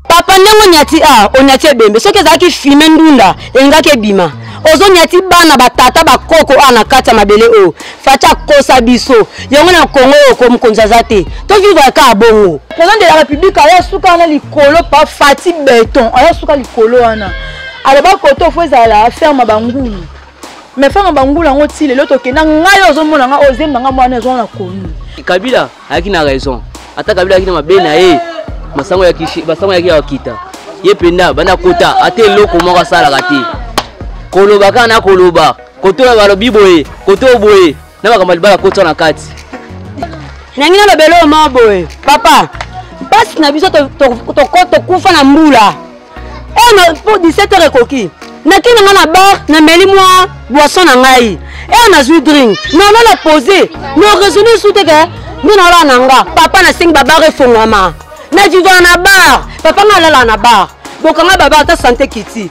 papa ndenge onyati a ah, onyati ebembe soki ezalaki fime ndunda elingaki ebima ozonyati bana batata bakoko awa na kati ya mabele oyo fati akosa biso yango na kongo oyo ko mokonzi aza te tovivre kaka bongo président de la république aya suka wana likolo pa fati beton aya suka likolo wana aloba koto fo ezala ferme bangulu mais ferme bangulu yango ti lelo tokenda ngai ozomona ngai ozemba ngai mwana ezwana konu kabila ayaki na raison ata kabila ayaki na mabe na ye masango ya kishi masango ya kiwa kita ye penda banda kota ata eloko moko asalaka te koloba kaka na koloba koto ya balobi boye koto boye na makambo libala kota na kati nangi nalobela oyo moko boye papa mpasi na biso tokufa na mbula oyo eh, po 17 heure ekoki nake na ngai na bar nameli mwa boisson na ngai ere nazwi drink nalala pose no raisonne su te ke nde nalala na nga papa nasengi babar efongwama na vivaka na bar papa ngai alala na bar bokanga baba ata sante kiti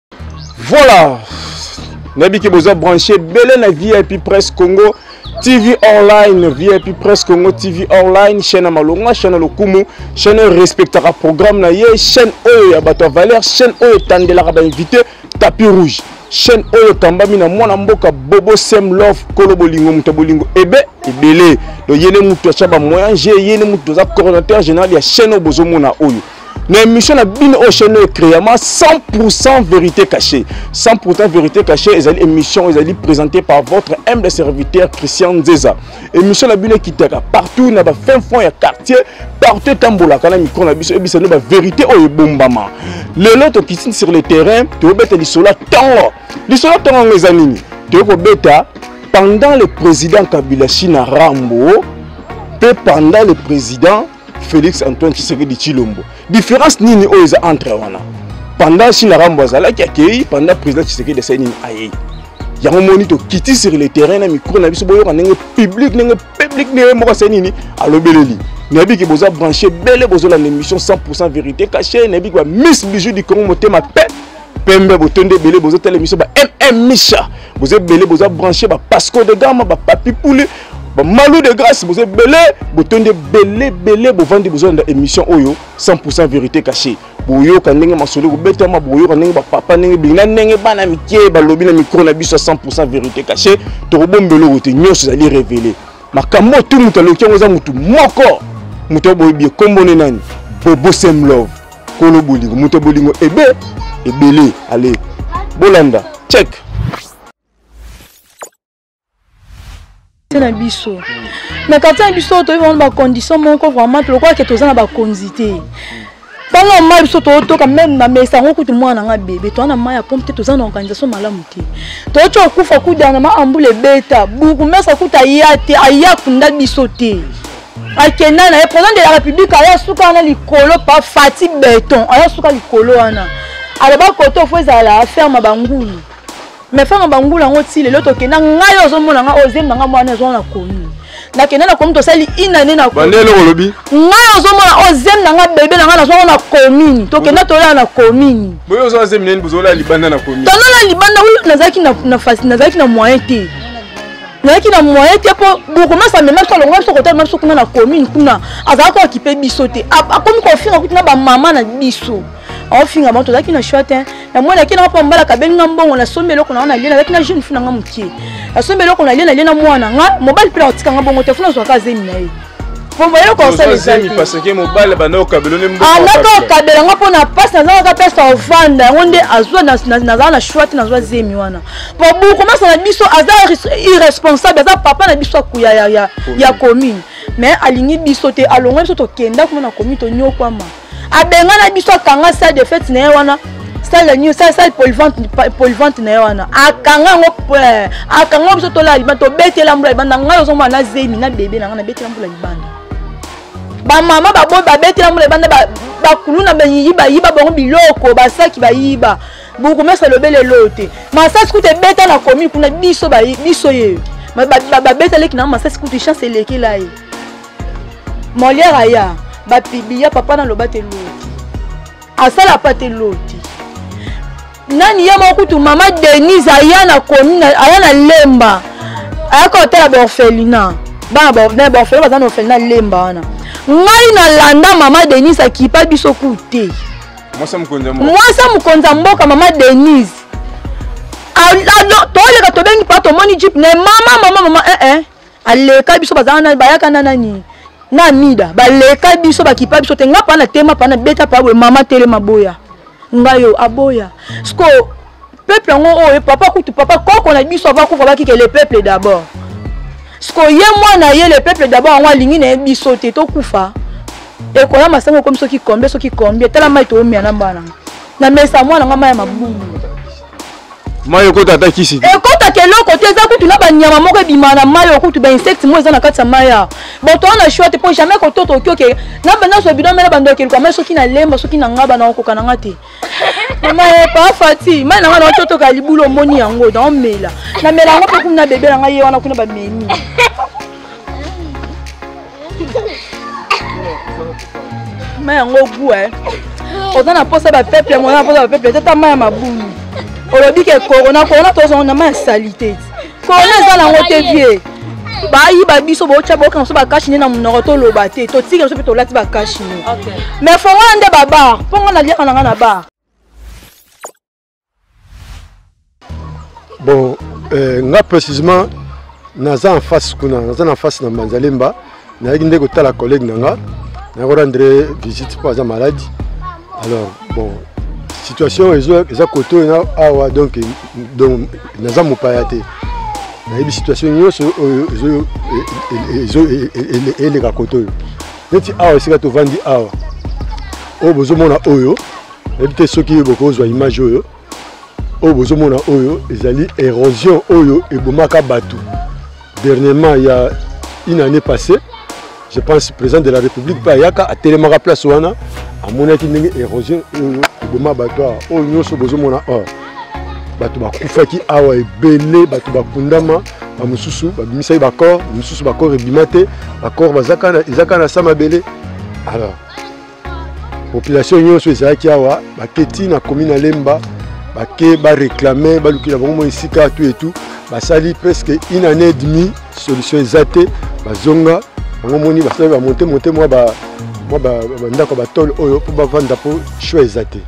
Voilà nayebi ke boza branche ebele na vip presse congo tv online vip presse congo tv online chaîne ya malonga chaîne ya lokumu chaîne oyo respectaka programme na ye chaîne oyo ya bato ya valeur chaîne oyo etandelaka bainvité tapis rouge chaîne oyo ekambami na mwana mboka bobo sem love kolo bolingo moto ya bolingo ebe ebele donc ye nde moto atya bamoyen je ye nde moto toza coordinateur général ya chaîne oyo bozomona oyo na émission na bino oyo chaîne oyo créama 100% vérité cachée 100% vérité cachée ezali émission ezali présentée par votre humble serviteur christian nzeza émission na bino ekitaka partout na bafin fond ya quartier partout etambolaka na mikro na biso ebisa no bavérité oyo ebombama lelo tokiti sur le terrain tobeta lisolo ya ntongo lisolo ya ntongo yango eza nini toyei kobeta pendant le président kabila china rambo mpe pendant le président Félix Antoine Tshisekedi Chilombo. Différence nini oyo eza entre wana? Pendant China Rambo azalaki akei, pendant président Tshisekedi asali nini ayei. Yango moni to kiti sur le terrain na micro na biso boyoka ndenge public ndenge public ndenge moko asali nini alobeleli. nayebi ke boza branche bele bozolanda émission 100 vérité caché nayebi ke ba miss bijou du congo motema pe pembe botondi ebele bozotala émission ba mm misha boza ebele boza branche ba pasco de gama ba papi pouli ba malou de grâce boza ebele botondi ebele ebele bovandi bozolanda émission oyo 100 vérité cachée boyoka ndenge masolo ekobetama boyoka ndenge bapapa ndenge bina ndenge bana mike balobi na mikro na biso ya 100 vérité cachée tokobombela oyo te nyonso ezali révélé makambo oyo tu moto aloki yango eza motu moko moto oyo boyebi ekombone nani bobo sem love kolo bolingo moto bolingo ebe ebele ale bolanda check na biso na quartier na biso toyebi wana bacondition moko vraiment lokola ke toza na bakonzi te ntango ya mai biso tootoka meme na mesa yango kutu mwana nanga bebe toza na mai ya pompe te toza na organisation malamu te toyoti okufa kudana ma ambula ebeta buku mesa kutu aya te aya kunda biso te akenda na ye président de la république aya suka wana likolo pa fati beton aya suka likolo wana aloba koto fo ezala ferme bangulu mais ferme bangulu yango ti lelo tokenda ngai ozomona ngai ozemba ngai mwana ezwa na commune nakenda na commune tosali inane na bandele olobi ngai ozomona ozemi na ngai bebe na ngai nazwaka na commune tokenda tolala na commune boye ozo azemi nani bozolala libanda na commune tolala libanda nazalaki na moyen te nayaki na moyen te mpo bourgmestre amema biso alongola biso kotala biso kuna na commune kuna azalaki koakipe biso te akomi kofinga kutu na bamama na biso aofinga bango tozalaki na choix te na mwana yaki nanga mpo mbalaka abengi nga mbongo nasombi eloko nanga nalie nazalaki na jeune fina nga moke nasombi eloko nalie nalie na mwana nga mobali mpe nakotika nga bongo te funa azwaka azemi na ye mpo eloko osala ezalaki paseke mobali abanda kokabela nde mbokaanda ka okabela yango mpo na mpasi nazanga ka mpesa ovanda yango nde azwa nazala na shwati nazwa zemi wana mpo bokomasa na biso aza irresponsable aza papa na biso akuya ya commune mais alingi biso te alongwa biso tokenda kuna na commune tonyokwama abengana biso akanga salle de fete na ye wana salle nini salle salle polivante polivante na ye wana akanga yango eh, akanga yango biso tolala libanda tobetela mbula libanda ngai ozomona na zemi na bebe na ngai nabetela mbula libanda bamama baboyi babetela mbula libanda bakuluna bayiyi bayiba bango biloko basaki bayiba bourgmestre alobeli eloo te masasi kutu ebeta na komi kuna biso biso ye babetaleki na masasi kutu chance elekela ye molière aya bapibiya papa naloba te loti asala pa te loti nani ye moko kutu mama denise aya na commune aya na lemba ayaka kotala baorphelina bana baorphelina baza na orphelina lemba wana ngai nalanda mama denise akipa biso ku te mwasi ya mokonzi ya mboka mama denise toleka tobengi pa tomoni jip na mama mama mama ee eh, eh. aleka biso baza wana bayaka na nani na amida baleka biso bakipa biso te nga pa na tema pa na beta pa boye mama telema boya ngai yo aboya sikoyo peuple yango oyo oh, eh, papa kutu papa koko na biso ava kufa bakike le peuple d'abord sikoyo ye mwana ye le peuple d'abord yango alingi na ye biso te tokufa ekoya masango ekomi soki combien soki combien tala mai toomia na mbana na mesa mwana ngai mai ya mabungu mai ekota ata kisi te ekotaka eloko te eza kutu na banyama moko ebima na mai oyo kutu bainsecte moko eza na kati ya mai ya bato wana na shwa te mpo jamais kototo okioke na bandaso bino mela bandoki eluka mai soki na lemba soki na ngaba na okoka na nga te mama epa eh, fati mai na nga na ototoka libulu omoni yango na omela namela yango mpe kuna na bebe na ngai ye wana kuna bamemi ma yango gu e oza na mposa bapeple yango oza na mposa bapeple te ta ma ya mabulu olobi ke korona korona tozongo na ma ya salite korona eza nango te vie bayiba biso botya boyoka biso bakashi nde na monoko toloba te totika biso mpe tolati bakashi ne mais fongo wana nde babar mpo ngai naliaka na ngai na bar bon euh, nga précisement naza en face kuna naza na face na mbanzalemba nayaki nde kotala collègue na nga nayaki rendre visite mpo aza maladi alors bon situation eza kote oyo awa donc naza mopaya te nayebi situation nyonso oyo eleka kote oyo neti awa esika tovandi awa oyo bozomona oyo nayebi te soki bokozwa image oyo oyo bozomona oyo ezali érosion oyo ebomaka bato dernièrement ya une année passée je pense président de la république mpe ayaka atelemaka place wana amonaki ndenge érosion oyo eboma bato awa oyo nyonso bozomona awa bato bakufaki awa ebele bato bakundama bamosusu babimisaki bacor mosusu bacor ebima te bacor ezaka na sa mabele alors population nyonso ezalaki awa bake ti na commune ya lemba bake bareklame balukela bango mwa esika tu etu basali presque une année demi solution eza te bazonga bango moni basali bamonte monte mwa bandako ya batole oyo mpo bavanda mpo choix eza te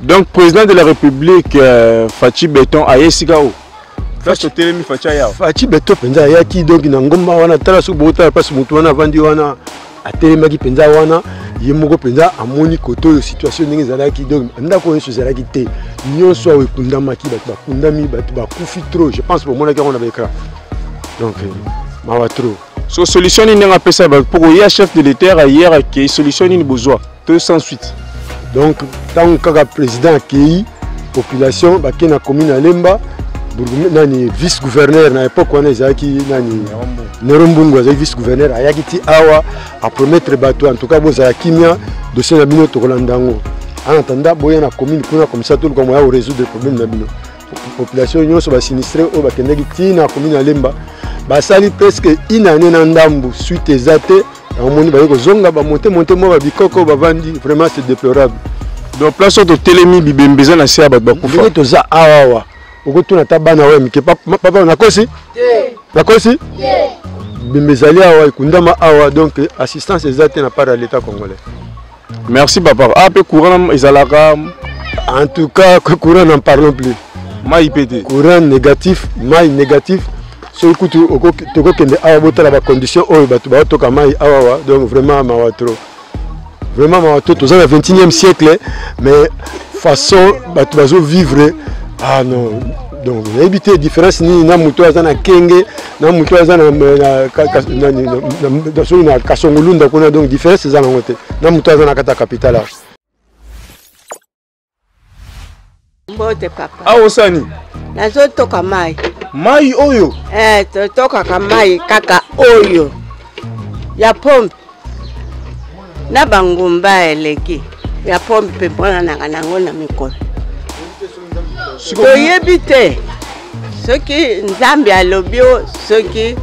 donc président de la république euh, faci beton aye esika oyo Fachi otelemi Fachi ayawa. Fachi beto mpenza ayaki donc na ngomba wana tala soki botala mpasi motu wana avandi wana atelemaki mpenza wana ye moko mpenza amoni kote oyo situation ndenge ezalaki donc ndako nyonso ezalaki te nyonso awa ekundamaki bato bakundami bato bakufi trop je pense bomonaki yango na baekran donc euh, mawa trop so solution nini ndenge apesa bato mpo koya chef de l'état ayer akei solution nini bozwa to sans suite donc ntango kaka président akei population bakei na commune ya lemba nani vice gouverneur na époque wana ezalaki nani nero mbungu azalaki vice gouverneur ayaki ti awa apromettre bato en tout cas bozala kimia dossier na bino tokolanda yango en attendant boya na commune kuna komisa toluka moya korésoudre problème na bino population nyonso basinistre oyo bakendaki ntina komini ya lemba basali presque une année na ndambu suite eza te bamoni baye kozonga bamonte monte mwa babikoko bavandi vraiment c'est déplorable donc place oyo totelemi bibembe eza na se ya bato bakufa ndenge toza awawa okotuna ata bana oyo ya mike papa nakosi nakosi bibembe ezali awa ekundama awa donc assistance eza te na part ya l'état congolais Merci papa. Ah pe courant ezalaka en tout cas courant n'en parlons plus. Mai pete. Courant négatif, mai négatif. soki kutu tokokende awa botala bacondition oyo bato baotoka mai awawa donc vraiment mawa trop vraiment mawa trop toza na 21e siècle mais façon bato bazovivre ah non donc nayebi te différence nini na moto aza na kenge na moto aza na soki na kasongolunda kuna donc différence eza nango te na moto aza na kati ya capital awa mbote papa awa osani nazotoka mai mai oyo eh, totokaka mai kaka oyo ya pompe na bangomba eleki ya pombe mpe mponanaka nango na mikolo toyebi te soki nzambe alobi o soki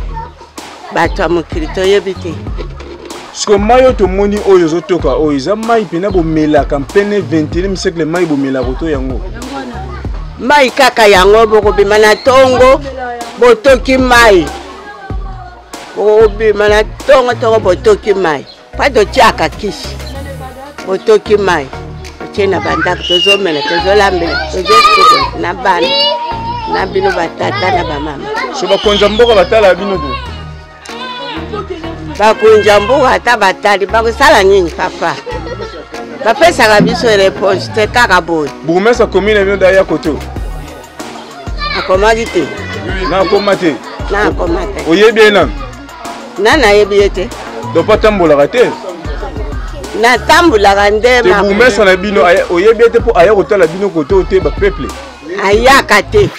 bato ya mokili toyebi te siko mai oyo tomoni oyo ezotoka oyo eza mai mpena bomelaka mpene 21 siècle mai bomelaka oto yango mai kaka yango bokobima na ntongo botoki mai okobima na ntongo ntongo botoki mai mpa totyaka kisi botoki mai otie na bandako tozomela tozolambela tozosukola na bana na bino batata na bamama so bakonza mboka batala bino te bakonza mboka ata batali bakosala nini papa bapesaka biso reponse te kaka boye bourgmestre commune bino daya koto akomaki te nakoma te nakoma te oyebi ye nani na nayebi ye te donc mpo atambolaka te natambolaka nde te bourgmestre na bino oyebi ye te mpo aya kotala bino kote oyo te bapeuple ayaka te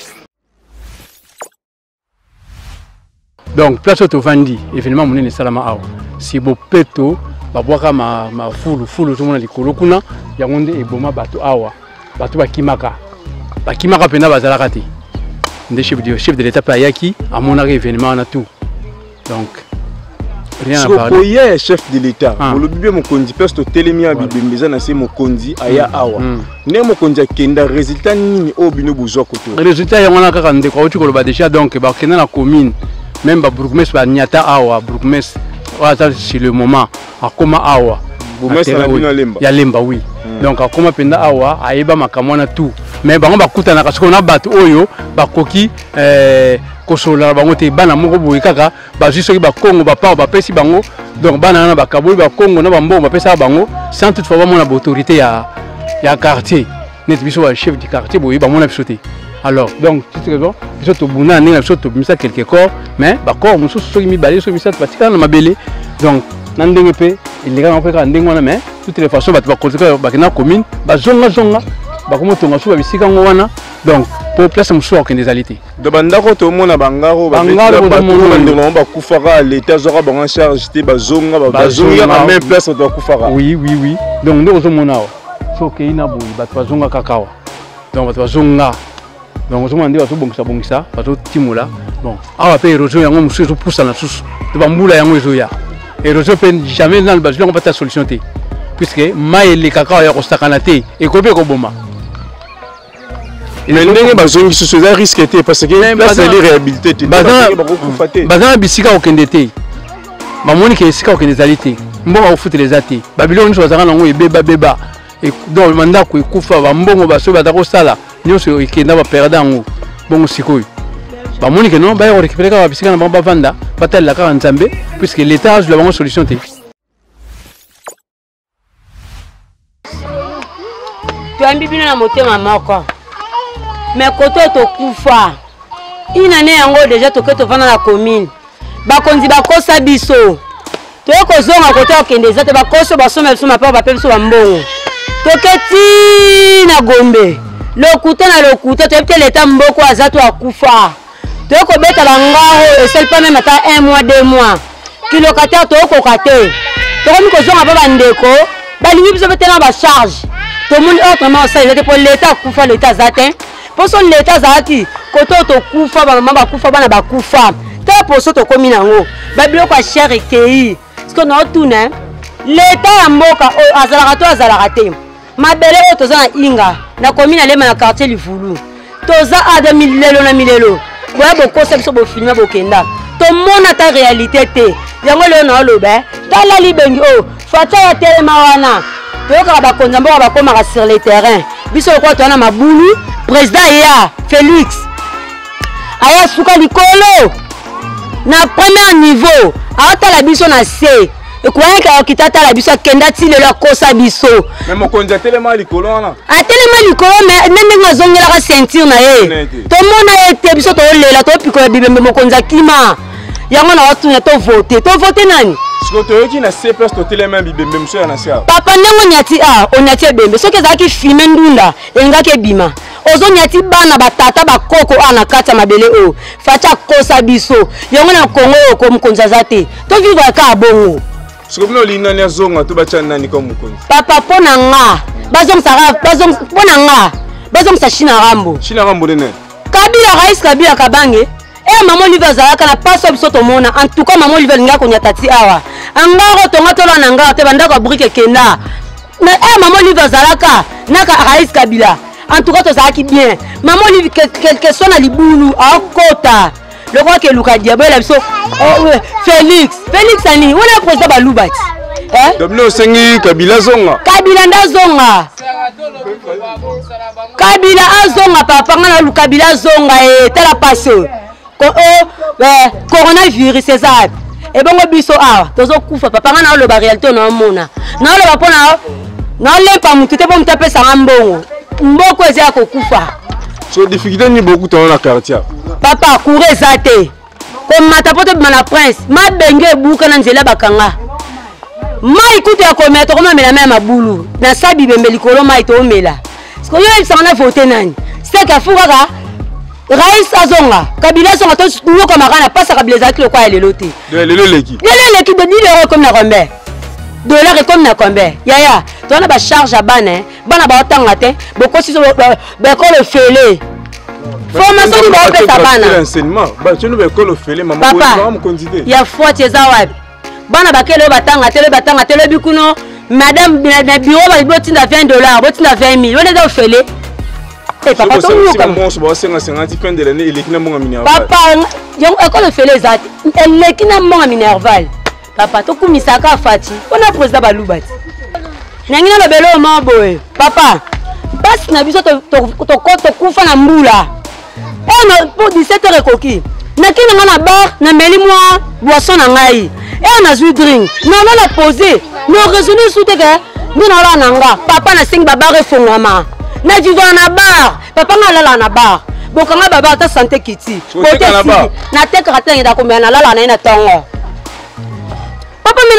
donc place oyo tovandi événement monene esalama awa si bopeto babwaka mafulufulu tomona likolo kuna yango nde eboma bato awa bato bakimaka bakimaka mpenza bazalaka te nde chef de l'état mpe ayaki amonaka événement wana tout donc rien à parler koye chef de l'état ah. olobi bien mokonzi place totelemi ya bibembe eza na se mokonzi aya hmm. awa hmm. nde mokonzi akenda résultat nini oyo bino bozwa koto résultat yango wana kaka ndeko auti koloba déjà donc bakenda na commune même babourgmestre banyata awa bourgmestre oyo aza sur le moment akoma awa ya lemba wi hmm. donc akoma mpenza awa ayeba makambo wana tout mais bango bakutanaka sikoyo na bato oyo bakoki eh, kosolola na bango te bana moko boye kaka bazwi soki bakongo bapao bapesi bango donc bana wana bakaboli bakongo na bambongo bapesaka bango sans toutefois bamona baautorité ya, ya quartier neti biso ba chef du quartier boye bamona biso te alors donc petite raison biso tobunda na ndenge na biso tobimisa quelque corps mais bacor mosusu soki mibale soki misato batikala na mabele donc na ndenge mpe elekaka mpe kaka ndenge wana mais toutes les façons bato bakotika bakenda commune bazongazonga bakomotonga suba bisika yango wana donc mpo place mosusu akokende ezali te do bandako tomona bangaro bandeko bakufaka leta azwaka bango charge te bazonga bazonga na même place bato bakufaka oui oui oui donc nde ozomona awa so okei na boye bato bazonga kaka awa donc bato bazonga donc ozomona nde bazobongisabongisa bazotimola bon awa mpe érosion yango mosusu ezopusana susu to bambula yango ezoya érosion mpe jamais nanu bazwi yango bata solution te puiske mai elekaka awa ya kosakana te ekoki mpe koboma mais ndenge bazongi susu eza risque te parce que place ezali réhabilité te bakokufa te baza na bisika kokende te bamoni ke esika kokende ezali te mbongo akofutela eza te babiloko nyonso bazalaka nango ebebabeba e, donc bandako ekufa bambongo basoki baza kosala nyonso ekenda baperde yango bongo sikoyo bamoni ke non baya korekipere kaka bisika na bango bavanda batalela kaka nzambe puiske leta azwila bango solution te toyambi bino na motema moko me koto tokufa inane yango deja toke tovanda na commune bakonzi bakosa biso toye kozonga kote okende eza te bakosi oyo basomba biso mapao bape biso bambongo toke ti na gombe lokuta na lokuta toyebi te leta mboko aza to akufa toyei kobeta bango oyo esali mpe meme ata un mois deux mois kilokatare tokokoka te tokomi kozonga mpe bandeko balingi biso mpe te na bacharge tomoni oyo vraiment osala eza te mpo leta akufa leta aza te mpo so leta azalaki kote oyo tokufa bamama bakufa bana bakufa ta poso tokomi na yango babiloko ya shere ekei sikoyo naotuna leta ya mboka oyo azalaka to azalaka te mabele oyo toza na inga na komi na lema na quartier livulu toza ada milelo na milelo boya bokosa biso bofilme bokenda tomona ta réalité te yango lelo na oloba eh? tala libengi oyo oh, faca ya telema wana toyokaka bakonzi ya mboka bakomaka sur le terrain biso lokola toza na mabulu président ya félix aya suka likolo na premier niveau aotala biso na se ekoyaka akita atala biso akenda ti lelo akosa biso mokonzi atelema likolo wana atelema likolo me nde ndenge azongelaka ceinture na ye tomona ye te biso tolela topikola bibembe mokonzi akima yango na watuna tovote tovote nani siko toyoki na se place totelema bibembe mosusu ya na se papa ndenge onyati a ah, onyati ebembe soki ezalaki filme ndunda elingaki ebima ozonyati bana batata bakoko awa na kati ya mabele oyo fati akosa biso yango na kongo oyo ko mokonzi aza te tovivre kaka bongo soki bino olingi nani azonga to batya nani kaka mokonzi papa mpo na nga mpo na nga bazongisa china rambo china rambo nene kabila rais kabila kabange e eh, mama olive azalaka na paso biso tomona en tout cas mama olive alingaka konyata ti awa angaro tonga tolwana ngaro te bandako ya brike kenda mais eh, mama olive azalaka naka rais kabila en tout cas tozalaki bien mama olive quelque soit na libulu akota lokola keluka diabo ela biso oh, félix félix ani wana président baluba ti eh? domino osengi kabila azonga kabila nde azonga kabila azonga papa nga na kabila azonga e tala pasi oyo ko o oh, eh, coronavirus eza wapi ebongo biso awa tozokufa papa nga naoloba réalité naomona naoloba mpo na naolepa motu te mpo motu apesanga mbongo mboko eza ya kokufa so difficulté nini bokutana na quartier papa coure eza te komata mpo tobima na prince mabenge ebuka na nzela bakanga mai kutu ya komela tokomamela mai ya mabulu na sa bibembe likolo mai toomela sikoyo yo yebisanga na vote nani seke afu kaka rais azonga kabila azonga toyokamaka na pasa kabila ezalaki lokola ya lelo te lelo eleki lelo eleki de 1000 euro ekomi na combien dollar ekomi na combien yaya toza na bacharge ya bana eh. bana baotanga te bokosi bekolo fele formation nini baopesa bana papa ya fwati eza wapi bana bakele oyo batanga te lobi batanga te lobi kuno madame na biro balobi botinda 20 dollar botinda 20 mille wana eza ofele eh, papa yango ekolo ofele eza te eleki na mbonga minerval papa tokumisaka fati mpo na président baluba te nangi nalobela oyo moko boye papa mpasi na biso tokufa na mbula oyo oh, mpo 17 heure ekoki naki na ngai na bar nameli mwa boisson na ngai eyo nazwi drink nalo na pose no raisonne esu te ke nde nalala na nga papa nasengi babar efongwama na vivana na bar papa nga alala na bar bokanga babar ata sante kiti kote natekaka te nangeda komela nalala na ye na ntongo papa me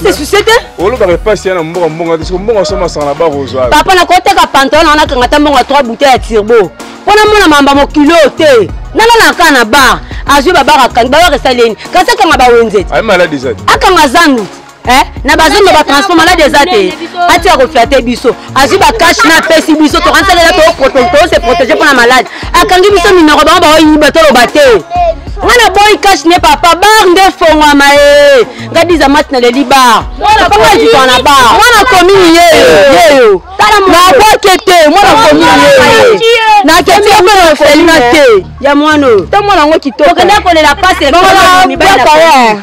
nase susie te olobaka epasi ya na mbongo mbongo te soko mbongo asoma masanga na bakozwa papa nakoteka pantalon na nakanga ta mbongo ya 3 bouteille ya turbo mpo namona mamba mokili oyo te nalalaka na bar azwi babaka akangi babaka esaleni kasi akanga bawenze te akanga zandu eh? na bazando batransport maladi eza te atika kofia te biso azwi bacashe na apesi biso tokansalela tose protege mpo na malade akangi biso minoko bango baoyiba toloba te nga na boyi kashe ne papa bar nde efongwama e nga diza mati na leli bar papa azikwa na bar mwana komini yeyo yeyo naboke te mwana komini yeyo naketi yo mpe na ofelina te ya mwana oyo to mwana yango kitoko okenda kolela pasi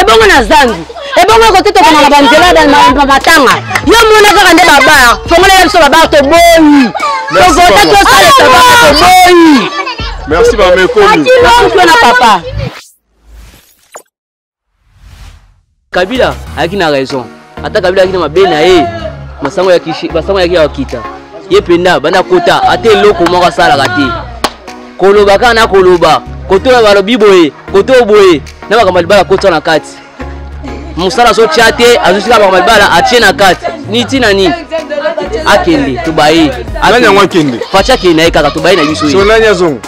ebongo na zangi ebongo ekoki tokoma na banzela na matanga yo mona kaka nde babar fongolela biso babar toboyi tokota tosala tabaka toboyi merci bamekomi na papa kabila ayaki na raison ata kabila ayaki na mabe na ye masango ya kishi masango yaki ya kita ye penda banda kota ata eloko moko asalaka te koloba kaka na koloba koto na balobi boye koto boye na makambo libala kota na kati mosala azotya te azosika makambo libala atye na kati ni ntina nini akende tobaye nani yango akende faci akende na ye kaka tobaye na biso ye so nani azonga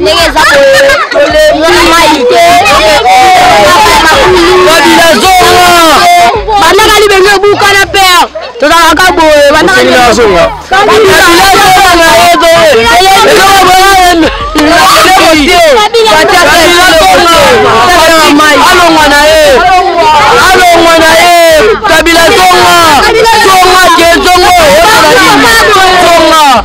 ndenge eza boyeolemai te kabila zonga bandaka libenge ebukana pere tozalaka boye bandaka zonga kabila zonga na ye alongwa na ye alongwa na ye kabila zonga zonga ke zongo zonga